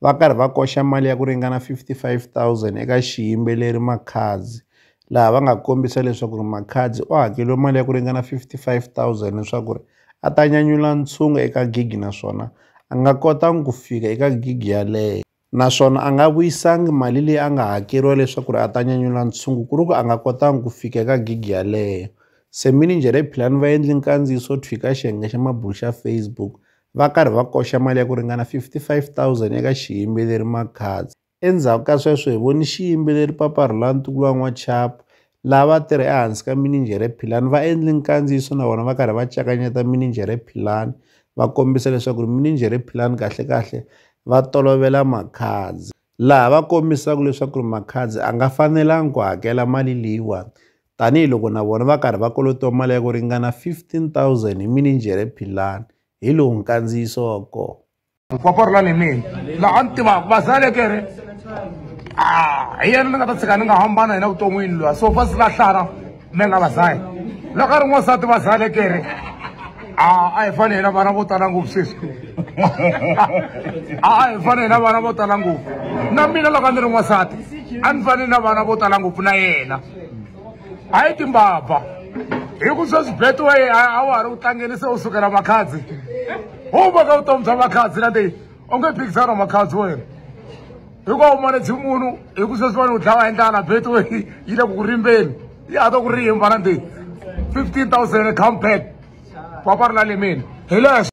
va karhi va koxa mali ya ku ringana R55 000 eka xiyimbeleri Makhadzi, laha va nga kombisa leswaku Makhadzi u hakeriwe mali ya ku ringana R55 000 leswaku a ta nyanyula ntshungu eka gigi naswona a nga kotanga ku fika eka gigi yaleyo. Naswona a nga vuyisanga mali leyi a nga hakeriwa leswaku a ta nyanyula ntshungu ku ri ku a nga kotanga ku fika eka gigi yaleyo. Se minijhere Philani va endle nkandziyiso thwi ka xiyenge xa mabulo xa Facebook va karhi va koxa mali ya ku ringana 55,000 eka xiyimbeleri Makhadzi. Endzhaku ka sweswo hi voni xiyimbeleri Papa Rhulani Tukulu wa N'wachapu lava va tirha ehansi ka mininjhere Philani va endle nkandziyiso na vona va karhi va cakanyeta mininjhere Philani va kombisa leswaku ri mininjhere Philani kahlekahle va tolovela Makhadzi laha va kombisaka leswaku ri Makhadzi a nga fanelangi ku hakela mali leyiwani tanihi loko na vona va karhi va kolotiwa mali ya ku ringana 15000 hi mininjhere Philani hi lowu nkandziyiso wa kona Nkoporla ni mina la a ni tivaka vazale ke re ah, hi yena ni nga ta tshika ni nga hambana hina vuton'wini lwa so fa silahlana me nga vazale loko a ri n'wansati vazale ke re ah, a hi fane hina vana vo tala ngopfu sweswi a hi fane hina vana vo tala ngopfu na mina loko a ni ri n'wansati a ni fane na vana vo tala ngopfu na yena a yi timbabva hi ku sweswi betway a wa ha ri u tlangeni se u sukela makhadzi u vaka vutomi bya makhadzi na leyi u nge phikisana wa makhadzi wena hikuva u monetshi munhu hi ku sweswi vani u dlawa hi ndlala betway yi le ku ku rimbeni yi hata ku rimba na leyi fifteen thousand come back papa ri lalemeni hi leswo